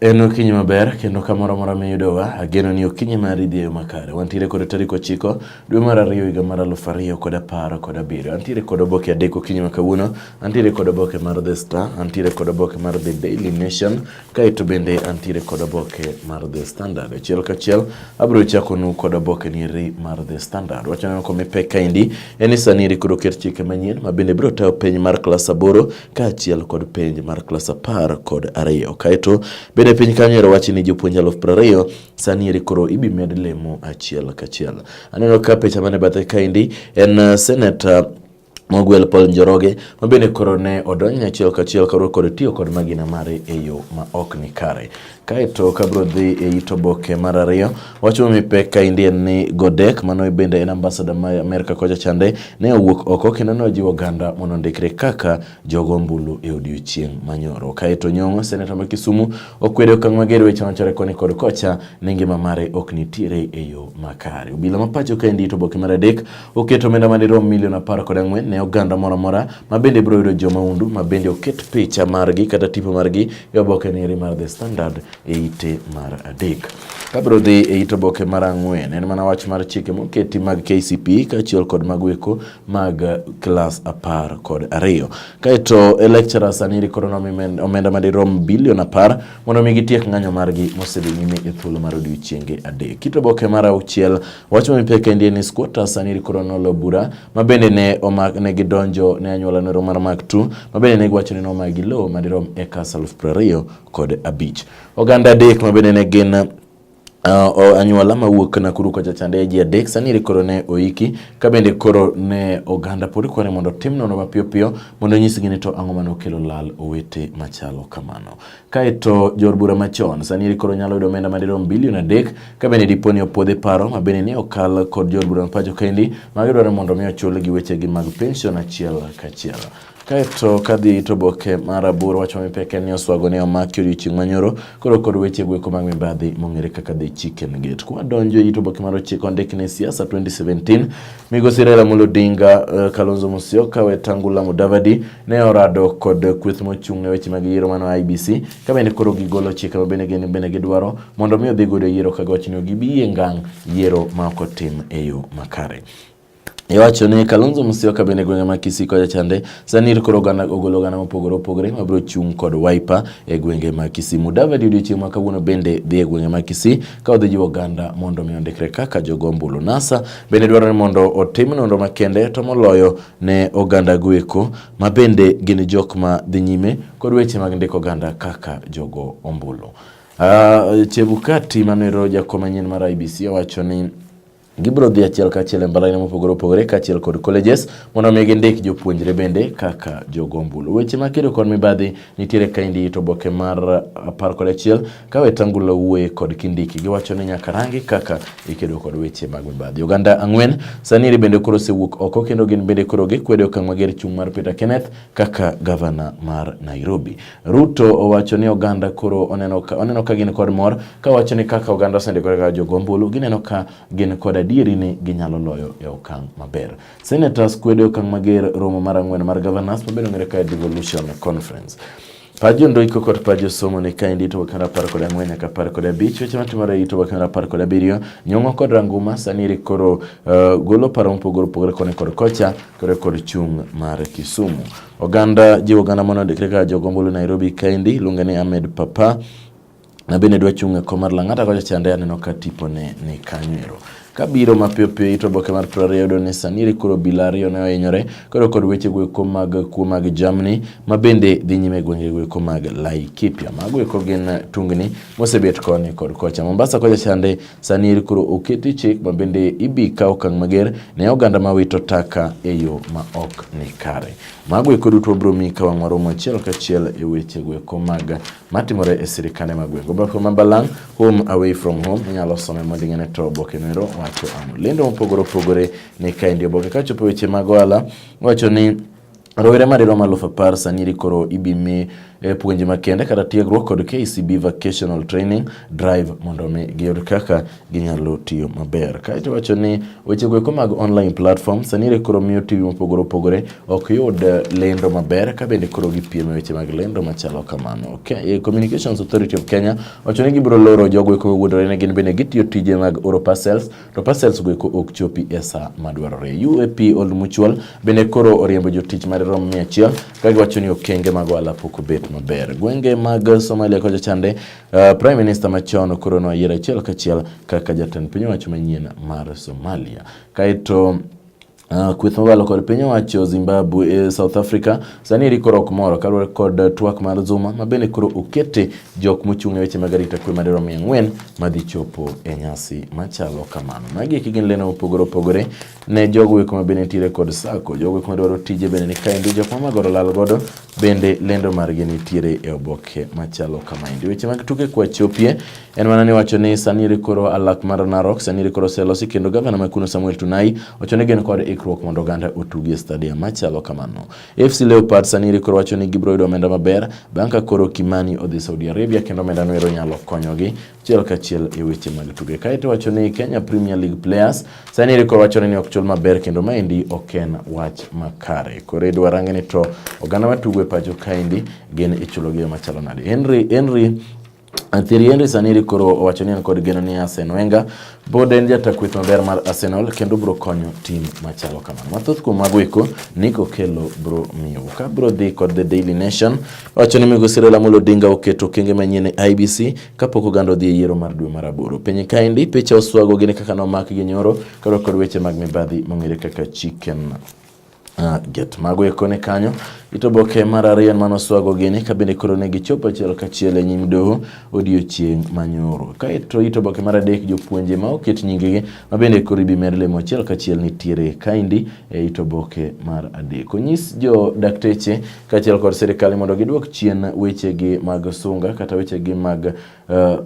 En okinyi maber kendo kamoro amora miyudowa, ageno ni okinyi mari dhi e yo makare. Wantiere kod tarik ochiko dwe mar ariyo higa mar aluf ariyo kod apar kod abiriyo. Antiere kod oboke adek okinyi ma kawuono, antiere kod oboke mar The Star, antiere kod oboke mar The Daily Nation, kaeto bende antiere kod oboke mar The Standard. Achiel kachiel abiro chakonu kod oboke niri mar The Standard. Wachoneno komipek kaendi en ni sani eri koro ket chike manyien ma bende biro tayo piny mar klas aboro kaachiel kod penj mar klas apar kod ariyo. Kaeto bende piny kanyo ero wachi ni jopuonj aluf piero ariyo sani eri koro ibi med lemo achiel kachiel. Aneno ka picha mane bathe kaendi en uh, senator Mogwel Paul Njoroge ma bende koro ne odonjne achiel kachiel karuo kod tiyo kod magina mare e yo ma ok ni kare. Kaeto kabro dhi e it oboke mar ariyo wacho mipek ka indien ni Godek mano e bende en ambasada ma Amerka kocha chande ne owuok oko kendo ne ojiwo oganda mondo ondikre kaka jogo ombulu e odiechieng' manyoro. Kaeto Nyong'o, seneta ma Kisumu okwedo okang' mager weche machore koni kod kocha ni ngima mare ok nitiere e yo makare. Obila ma pacho ka endi it oboke mar adek Oket omenda madirom milion apar kod ang'wen ne oganda moro amora ma bende biro yudo jo mahundu ma bende oket picha margi kata tipo margi e oboke neri mar The Standard e ite mar adek. Kabiro dhi e it oboke mar ang'wen en mana wach mar chike moketi mag KCP kaachiel kod mag weko mag klas apar kod ariyo. Kaeto e lecturer sani rikoro omenda madirom bilion apar mondo mi gitiek ng'anyo margi mosedhi nyime e thuolo mar odiochienge adek. Kit oboke mar auchiel Wach ma mipek endi en ni squatters aniri koro nolo bura ma bende ne omak ne gidonjo ne anyuola noro mar Mark II ma bende ne giwacho ni nomagi lowo madirom acres aluf piero ariyo kod abich. Oganda adek ma bende ne gin Uh, anyuola mawuok Nakuru kocha chande ji adek sani koro ne oiki ka bende koro ne oganda pod kwani mondo tim nono mapiyo piyo mondo nyisgi ni to ang'o mane okelo lal owete machalo kamano. Kaeto jor bura machon sani eri koro nyalo yudo omenda madirom bilion adek ka bende dipo ni opwodhe paro ma bende ni okal kod jor bura mapacho kendi ma gidwaro mondo mi ochul gi wechegi mag pension achiel kachiel. Kaeto kadhi to boke mar aboro wacho mipeke ni oswago ne omaki odiochieng' manyoro koro kod weche gweko mag mibadhi mong'ere kaka the chicken gate. Kwa donjo ito boke mar ochiko ondik ni siasa 2017 Migosi Raila Amolo Odinga, eh, Kalonzo Musyoka, Wetangula Mudavadi ne orado kod kweth mochung' ne weche mag yiero mano IBC ka bende koro gigolo chike ma bende gin bende gidwaro mondo mi odhi godo yiero ka gochni gibiyie ngang' yiero ma ok otim e yo makare. Iwacho ni Kalonzo Musyoka bende gwenge ma Kisii kocha chande sani koro oganda ogolo oganda mopogore opogore ma biro chung' kod Wiper e gwenge ma Kisii. Mudavadi odiochieng' ma kawuono bende dhi e gwenge ma Kisii ka odhi jiwo oganda mondo mi ondikre kaka jogo ombulu. NASA bende dwaro ni mondo otim nonro makende to moloyo ne oganda goeko ma bende gin jok ma dhi nyime kod weche mag ndiko oganda kaka jogo ombulu. Uh, Chebukati manero jakom manyien mar IBC owacho ni Gibiro dhi achiel kachiel e mbalariany mopogore opogore kaachiel kod colleges mondo omi gindik jopuonjre bende kaka jogombulu. Weche ma kedo kod mibadhi nitiere ka indi to oboke mar uh, apar kod achiel ka Wetangula wuoye kod Kindiki giwacho ni nyaka rangi kaka ikedo kod weche mag mibadhi. Oganda ang'wen saniri bende koro osewuok oko kendo gin bende koro gikwedo okang' mager chung' mar Peter Kenneth kaka gavana mar Nairobi. Ruto owacho ni oganda koro oneno ka, oneno ka gin kod mor kawacho ni kaka oganda osendikore kaka jogo ombulu gineno ka gin kod adieri ni ginyalo loyo e okang' maber. Senators kwedo e okang' mager romo mar ang'wen mar governors mabedo ng'ere ka devolution conference. Pajo ndoiko kod pajo somo ni kaendi ito wakendo apar kod ang'wen nyaka apar kod abich weche matimore ito wakendo apar kod abiriyo nyong'o kod ranguma sani iri koro uh, golo paro mopogore opogore koni kod kocha kore kod chung' mar Kisumu Oganda jiwo gana mondo ondikre kaka jogombulu Nairobi kaendi iluonge ni Ahmed Papa na bende dwa chung' e kom mar Lang'ata kocha chande aneno ka tipone ni kanyo ero kabiro mapiyo piyo ito oboke mar piero ariyo yudo ni Saniri koro obila ariyo ne ohinyore koro kod weche goeko mag kuo mag jamni ma bende dhi nyime e gwenge goeko mag Laikipia. Mago eko gin tungni mosebet koni kod kocha. Mombasa kocha chande Sani eri koro oketi chik ma bende ibi kaw okang' mager ne oganda ma wito taka e yo ma ok ni kare. Mago eko duto wabiro miyi ka wang' waromo achiel kachiel e weche gweko mag matimore e sirkande mag gweng'. Oboke ma balang' home away from home inyalo some mondo ing'e to oboke noero wacho ang'o. Lendo mopogore opogore ni kaendi oboke kachopo weche mag ohala wacho ni Rowere madirom aluf apar sani koro ibimi e puonje makende kata tiegruok kod KCB Vocational Training Drive mondo mi giyud kaka ginyalo tiyo maber. Kaeto wacho ni weche goeko mag online platform sani koro miyo TV mopogore opogore ok yud e, lendo maber ka bende koro gipiem e weche mag lendo machalo kamano. Okay. E, Communications Authority of Kenya wacho ni gibiro loro jogo eko mowuondore ni gin bende gitiyo tije mag oro parcels to parcels go eko ok chopi e sa madwarore. UAP Old Mutual bende koro oriembo jotich mar rom 100 ka giwacho ni okenge mag ohala pok obet maber. Gwenge mag Somalia kocha chande, uh, Prime Minister machon koro noyier achiel kachiel kaka jatend piny owacho manyien mar Somalia. Kaito Uh, kweth mabalo kod piny owacho Zimbabwe e eh, South Africa sani eri koro ok moro kaluwore kod twak mar Zuma ma bende koro okete jok mochung' e weche mag arita kwe madirom mia ang'wen madhi chopo e nyasi machalo kamano. Magi eki gin leno mopogore opogore ne jogo eko ma bende nitiere kod sako, jogo eko madwaro tije bende ni kaendi, jok mamagoro lal godo bende lendo margi nitiere e oboke machalo kamaendi. Weche mag tuke kwachopie En mana ni wacho ni sani iri koro alak mar Narok, sani iri koro oselosi kendo gavana ma kuno Samuel Tunai wacho ni gin kod ikruok mondo oganda otugi e stadium machalo kamano. FC Leopard sani iri koro wacho ni gibiro yudo omenda maber bang' ka koro Kimani odhi Saudi Arabia kendo omenda no ero nyalo konyogi achiel kachiel e weche mag tuke. Kae to wacho ni Kenya Premier League players sani iri koro wacho ni ok chul maber kendo maendi ok en wach makare. Koro idwa range ni to oganda matugo e pacho kaendi gin ichulogi e machalo nade. Henry Henry Thierry Henry sani koro owacho ni en kod geno ni Arsene Wenger pod en jata kweth maber mar Arsenal kendo bro konyo tim machalo kamano. Mathoth kuom mago eko Nick Okello bro miyo. Ka bro dhi kod The Daily Nation wacho ni Migosi Raila Amolo Odinga oketo okenge manyien e IBC kapok oganda odhi e yiero mar dwe mar aboro. Piny kaendi picha oswago gini kaka nomak gi nyoro karo kod weche mag mibadhi mong'ere kaka chicken Ah, get mago eko ni kanyo ito boke mar ariyo en mano swago gini ka bende koro ne gichopo achiel kachiel e nyim doho odiechieng' manyoro kaeto ito boke mar adek jopuonje ma oket nyingegi ma bende koro ibimer lemo achiel kachiel nitiere kaindi e ito boke mar adek onyis jo dakteche kaachiel kod sirikal mondo gidwok chien wechegi mag sunga kata wechegi mag uh,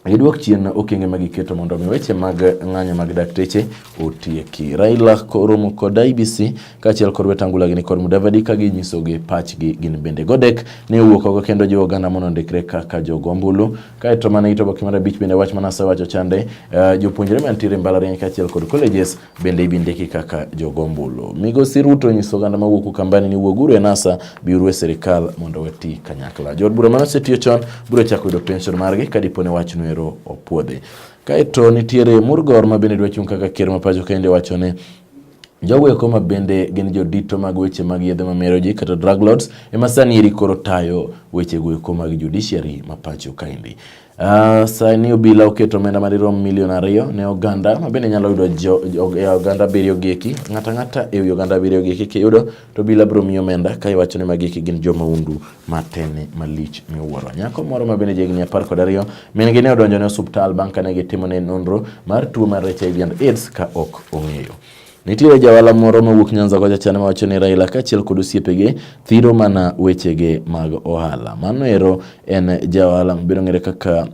gidwok chien okenge ma giketo mondo omi weche mag ng'anyo mag dakteche otieki. Raila koromo kod IBC kaachiel kod wetangula gini kod Mudavadi ka ginyisogi pachgi gin bende. Godek ne owuok oko kendo jiwo oganda mondo ondikre kaka jogo ombulu. Kaeto mana ito boke mar abich bende wach mana asewacho chande uh, jopuonjre mantiere mbalariany kaachiel kod colleges bende ibindiki kaka jogombulu. Migosi Ruto onyiso oganda mawuok Ukambani ni wuoguru e NASA biuru e sirikal mondo wati kanyakla. Jood bura mane osetiyo chon biro chako yudo pension margi ka dipo ne wachno ero opuodhi. Kaeto nitiere Murgor ma bende dwa chung' kaka ker ma pacho kende wacho ni Jogo eko ma bende gin jodito mag weche mag yedhe ma mero ji kata drug lords ema sani eri koro tayo weche go eko mag judiciary ma pacho kaendi. Uh, sani obila oketo omenda madirom milion ariyo ne oganda ma bende nyalo yudo jo, jo, e oganda abiriyo gieki ng'ata ng'ata e wi oganda abiriyo gieki kiyudo to obila biro miyo omenda ka iwacho ni ma gieki gin joma undu matene malich miwuoro nyako moro ma bende jahigni apar kod ariyo min gi ne odonjo ne osuptal bang' kane gitimone nonro mar tuo mar HIV and AIDS ka ok ong'eyo Nitiere jawala moro mawuok Nyanza kocha chana mawacho ni Raila kaachiel kod osiepege thiro mana wechege mag ohala. Mano ero en jawala mabiro ng'ere kaka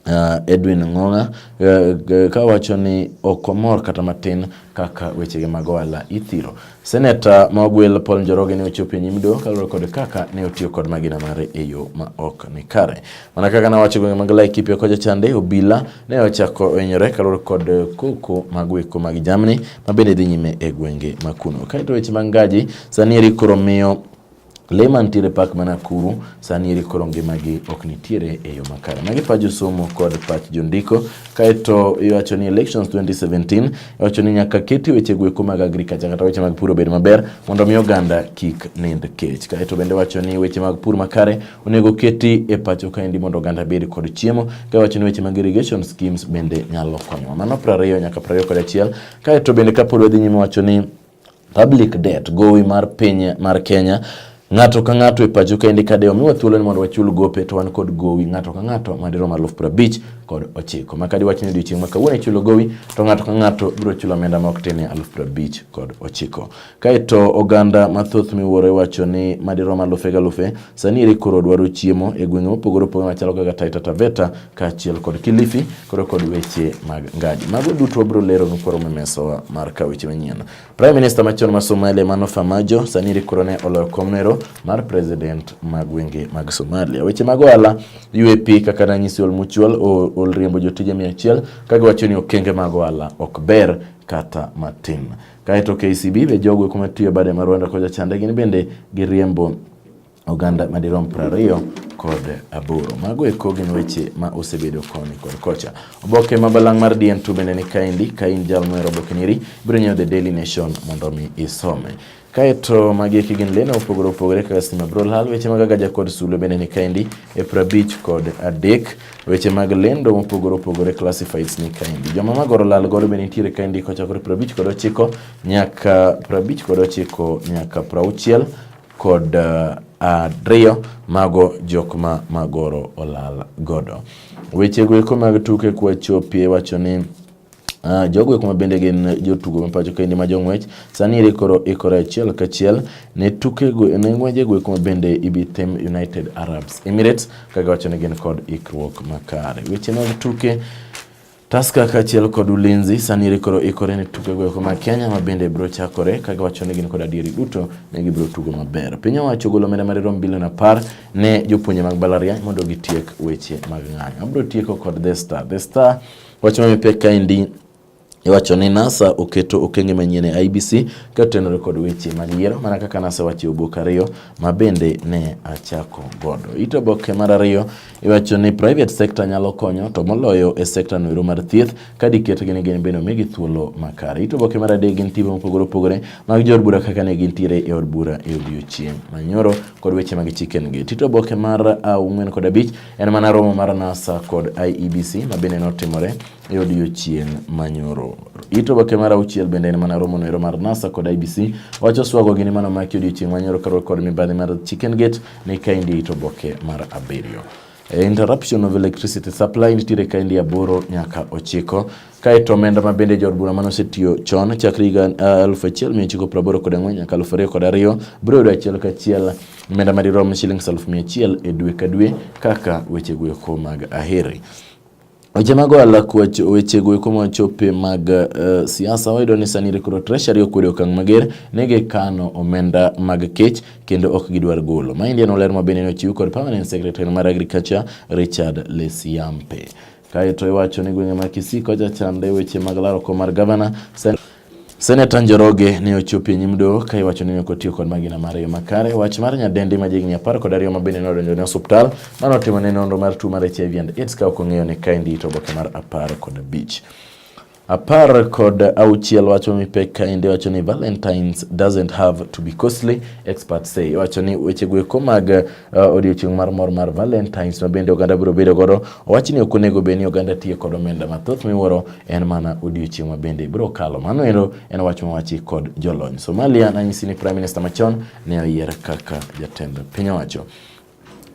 Uh, Edwin Ng'ong'a uh, ka wacho ni ok omor kata matin kaka wechege mag ohala ithiro. Seneta ma ogwel Paul Njoroge ne ochopo e nyim doho kaluwore kod kaka ne otiyo kod magina mare e yo ma ok ni kare. Mana kaka nawacho gwenge mag Laikipia kocha chande obila ne ochako ohinyore kaluwore kod eh, koko mag weko mag jamni ma bende dhi nyime e gwenge ma kuno. Kaeto weche mag ngaji sani eri koro miyo le mantiere pak mana kuru sani eri koro ngimagi ok nitiere e yo makare. Magi pach josomo kod pach jondiko. Kaeto iwacho ni elections 2017 iwacho ni nyaka keti weche gweko mag agriculture kata weche mag pur obed maber mondo mi oganda kik nind kech. Kaeto bende wacho ni weche mag pur makare Onego keti e pacho kaendi mondo oganda bed kod chiemo, ka wacho ni weche mag irrigation schemes bende nyalo konyowa. Mano prariyo nyaka prariyo kod achiel, kae to bende kapod wadhi nyime wacho ni public debt gowi mar piny mar Kenya Ng'ato ka ng'ato e pacho kaendi ka de omiwa thuolo ni mondo wachul gope to wan kod gowi ng'ato ka ng'ato madirom aluf prabich kod ochiko. Ma kadi wachni odiochieng' ma kawuono ichulo gowi to ng'ato ka ng'ato biro chulo omenda ma ok tin aluf prabich kod ochiko. Kaeto oganda mathoth miwuoro iwacho ni madirom alufe galufe sani eri koro dwaro chiemo e gwenge mopogore opogore machalo kaka Taita Taveta kaachiel kod Kilifi koro kod weche mag ngaji. Mago duto wabiro lero nukoro memesowa mar ka weche manyien. Prime Minister machon ma Somalia Mano Farmajo sani eri koro ne oloyo komnero mar President mag gwenge mag Somalia. Weche mag ohala UAP kaka ranyisi Olmuchwal ol riembo jotije 100 kagiwacho ni okenge mag ohala ok ber kata matin. Kae to KCB be jogo kuma tiyo bade ma Rwanda kocha chande gin bende giriembo oganda madirom prariyo kod aboro. Mago eko gin weche ma osebedo koni kod kocha. Oboke ma balang' mar DN2 bende ni kaendi ka in jal mohero oboke niri biro nyiewo The Daily Nation mondo mi isome. Kaeto magi eki gin leno opogore opogore kaka stima brolhal weche magaga jakod sulwe bende ni kaendi e prabich kod adek Weche mag lendo mopogore opogore classifieds ni kaendi. Joma magoro lal godo be nitiere kaendi kochakore 59 kod ochiko nyaka 59 kod ochiko nyaka 60 kod uh, ariyo uh, mago jok ma magoro olal godo. Wechego eko mag tuke kwachopie wacho ni Uh, jogo eko mabende gin jotugo ma pacho kendi ma jong'wech sani eri koro ikore achiel kachiel ne tukego ne ng'wejego eko mabende ibi tem United Arabs Emirates kaka wacho ni gin kod ikruok makare weche mag tuke Taska kaachiel kod Ulinzi sani rikoro ikore ne tuke goeko ma Kenya ma bende biro chakore ka giwacho ni gin kod adieri duto ne gibiro tugo maber. Piny owacho ogolo omenda madirom bilion apar ne jopuonje mag mbalariany mondo gitiek weche mag ng'anyo. Abiro tieko kod The Star. The Star Wach ma pek kaendi iwacho ni NASA oketo okenge manyien e IBC ka otenore kod weche mag yiero mana kaka NASA wacho e obok ariyo ma bende ne achako godo. Ito oboke mar ariyo iwacho ni private sector nyalo konyo to moloyo e sector noero mar thieth ka diketgi ni gin bende omigi thuolo makare. Ito oboke mar adek gin timbe mopogore opogore mag jood bura kaka ne gintiere e od bura e odiechieng' manyoro kod weche mag chicken gate. Ito oboke mar ang'wen kod abich En mana romo mar NASA kod IEBC ma bende notimore e odiechieng' manyoro. Ito oboke mar auchiel bende en mana romo noero mar NASA kod IEBC wacho swago gini mano maki odiechieng' manyoro karuok kod mibadhi mar Chicken Gate ni kaendi ito oboke mar abiriyo. E, interruption of electricity supply nitiere kaendi aboro nyaka ochiko Kae to omenda ma bende jood bura mane osetiyo chon chakre higa 1984 kod ang'wen nyaka 2002 biro yudo achiel kachiel omenda madirom shillings 100,000 e dwe ka dwe kaka weche goeko mag aheri. Weche mag ohala kwach weche goeko machope mag uh, siasa wayudo ni sani koro treasury okwedo okang' mager ne gikano omenda mag kech kendo ok gidwar golo. Maendi en oler ma bende nochiw kod permanent secretary mar agriculture Richard Lesiampe. Kaeto iwacho ni gwenge ma Kisii kocha chande weche mag laro kom mar gavana. Sen Seneta Njoroge ne ochopo e nyim doho ka iwacho ni ne ok otiyo kod magina mar yo makare. Wach mar nyadendi ma jigni apar kod ariyo ma bende ne odonjo ne osuptal mano otimo ne nonro mar tuo mar HIV and AIDS ka ok ong'eyo ni kaendi ito oboke mar apar kod abich. Apar kod auchiel wacho mipek kaendi wacho ni Valentines doesn't have to be costly experts say wacho ni weche gweko mag uh, odiochieng' mar mor mar Valentines ma bende oganda biro bedo godo owacho ni ok onego bed ni oganda tiyo kod omenda mathoth miwuoro en mana odiochieng' ma bende biro kalo mano ero en wach mowachi kod jolony Somalia nanyisi ni Prime Minister machon ne oyier kaka jatend piny owacho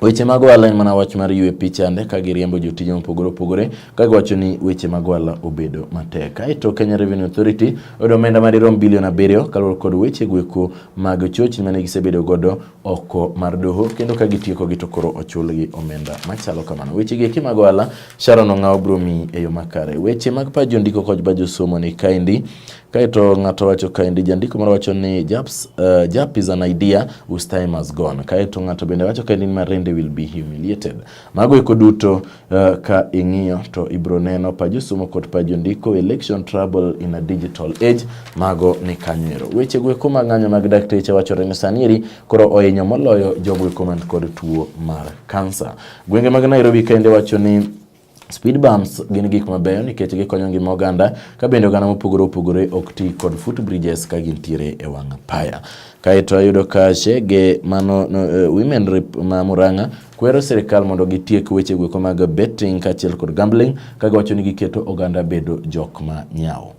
Weche mag ohala en mana wach mar yue pichande ka giriembo jotije mopogore opogore ka giwacho ni weche mag ohala obedo matek. Kaeto Kenya Revenue Authority oyudo omenda madirom bilion abiriyo kaluwore kod weche gweko mag chochni mane gisebedo godo oko mar doho kendo ka gitieko gi to koro ochulgi omenda machalo kamano. Weche gieki mag ohala Sharon Ong'aw biro miyi e yo makare. Weche mag paj jondiko kod paj josomo ni kaendi. Kaeto ng'ato wacho kaendi jandiko moro wacho ni Japs, uh, Jap is an idea whose time has gone. Kaeto ng'ato bende wacho kaendi ni Marende will be humiliated. Mago eko duto uh, ka ing'iyo to ibro neno pa josomo kod pa jondiko election trouble in a digital age mago ni kanywero. Weche go eko mag ng'anyo mag dakteche wachore ni sani eri koro oinyo moloyo jogo eko man kod tuo mar kansa. Gwenge mag Nairobi kaendi wacho ni Speed bumps gin gik mabeyo nikech gikonyo ngima oganda ka bende oganda mopogore opogore ok ti kod foot bridges ka gintiere e wang' apaya. Kaeto ayudo ka Chege mano no, uh, Women Rep ma Murang'a kwero sirkal mondo gitiek weche gweko mag betting kaachiel kod gambling ka giwacho ni giketo oganda bedo jok ma nyawo.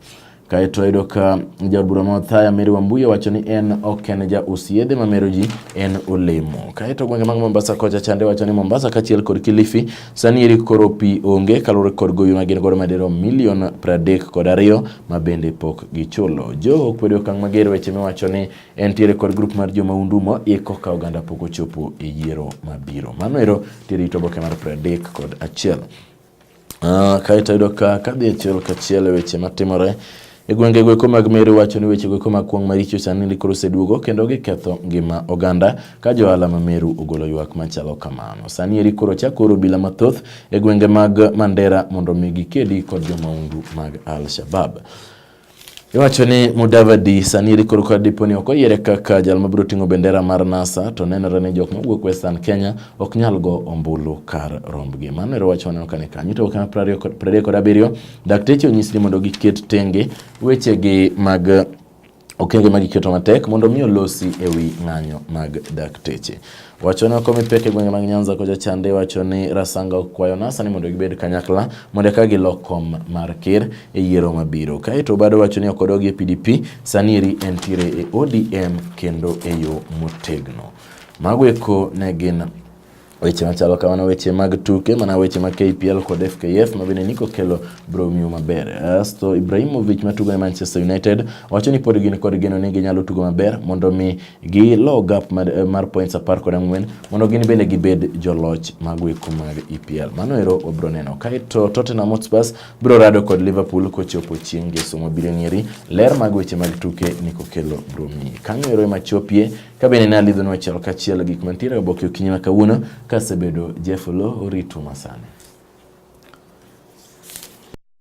Kae to ayudo ka jaod bura ma Othaya Mary Wambuya wacho ni en ok en ja us yedhe ma mero ji en olemo. Kae to gwenge mag Mombasa kocha chande wacho ni Mombasa kachiel kod Kilifi sani eri koro pi onge kaluwore kod gowi ma gin godo madero milion pradek kod ariyo ma bende pok gichulo. Jo kwedo okang' mager weche miwacho ni en tiere kod grup mar jo maundu ma iko ka oganda pok ochopo e yiero mabiro. Mano ero tiere ito oboke mar pradek kod achiel. Ah, kae to yudo ka kadhi achiel kachiel e weche matimore e gwenge gweko mag Meru wacho ni weche gweko mag kwong' maricho sani ni koro oseduogo kendo giketho ngima oganda ka johala ma Meru ogolo ywak machalo kamano. Sani eri koro chako oro obila mathoth e gwenge mag Mandera mondo mi gikedi kod jomaundu mag Al-Shabab. Iwacho ni Mudavadi sani eri korka dipo ni ok oyiere kaka jal mabiro ting'o bendera mar NASA to nenore ni jok mawuok Western Kenya ok nyal go ombulu kar rombgi. Mano ero wach waneno kane kanyo to kana prariyo kod abiriyo dakteche onyis ni mondo giket tenge wechegi mag okenge ma giketo matek mondo mi olosi e wi ng'anyo mag dakteche. Wacho ni okomi pek e gwenge mag Nyanza kocha chande wacho ni Rasanga okwayo NASA ni mondo gibed kanyakla mondo eka gilok kom mar ker e yiero mabiro. Kaeto Obado wacho ni ok odog e PDP, sani eri entiere e ODM kendo e yo motegno. Mago eko ne gin weche machalo kamano, weche mag tuke mana weche mag KPL kod FKF ma bende Nico Kello bro miyo maber. Asto Ibrahimovic matugo ne Manchester United wacho ni pod gin kod geno ni ginyalo tugo maber mondo mi gi low gap mar, eh, mar points apar kod ang'wen mondo gin bende gibed joloch mago eko mag EPL. Mano ero wabiro neno. Kaeto Tottenham Hotspur biro rado kod Liverpool kochopo chieng' Ngeso mabiro ng'eri. Ler mag weche mag tuke ni kokelo biro miyi. Kanyo ero ema chopie ka bende ne alidhono achiel kachiel gik mantiere oboke okinyi ma kawuono kasebedo Jeff Lo oritu masani.